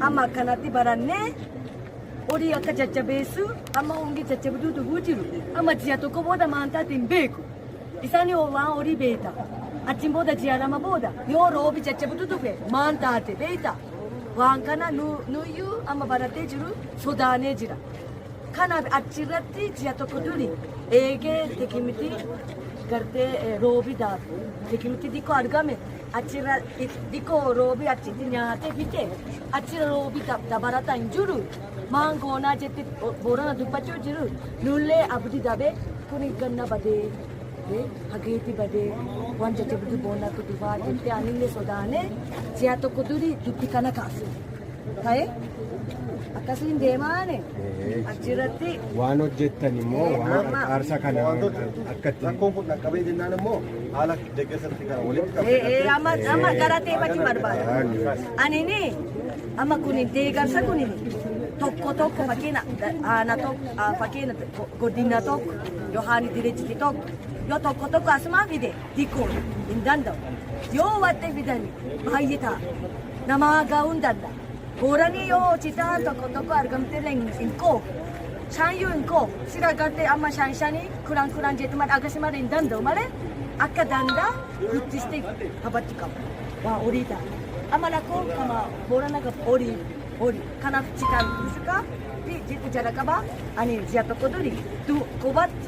amma akkanatti barannee horii akka jajjabeessu amma hongi jajjabduu dhuguu jiru amma ji'a tokko booda maantaatti hin beeku isaan waan horii beeta achiin booda ji'a lama booda yoo roobi jajjabduu dhufe maan taate beeta waan kana nuyyuu amma barattee jiru sodaanee jira. Kanaaf achirratti ji'a tokko duri eegee tikimitii gartee eh, roobi daatu tikimitii xiqqoo argame achirra i- xiqqoo roobi achitti nyaatee fite achirra roobi dab- dabalataa hin jiru maan goonaa jette bo- boorana dubbachuu jiru nullee abdi dabee kun ganna badee eh, hageeti badee waan jajjabdu boonaa kudufaa jette anillee sodaanee ji'a tokko duri dubbi kana kaase. ta'e akkasiin deemaane achirratti waan hojjettan immoo waan qarqaarsa kana akka itti rakkoon kun dhaqqabee jennaan immoo haala deeggarsatti gara walitti ee ee amma amma galateeffachuu barbaada anini amma kun deegarsa kun tokko tokko fakkeenya aana tokko ah, fakkeenya godina tokko yohaan dirijiti tokko yoo tokko tokko asumaa fide hiikuun hin danda'u. Yoo watti fidani baay'ee ta'a. Nama gaa'uu hin danda'a. Booranii yoo hojii ta'an tokko tokko argamtee illee hin- hin qoobu. Shaayyuu hin qoobu. Si argattee amma shaan shanii kudhan kudhan jedhu malee akkasii malee hin danda'u malee akka danda'a guddistee kabajji qabu. Waa horii ta'a. Amma lakkoo kama boorana qabu horii horii. Kanaaf citaan musikaa fi jitu jalaqabaa ani ji'a tokko duri du qubatti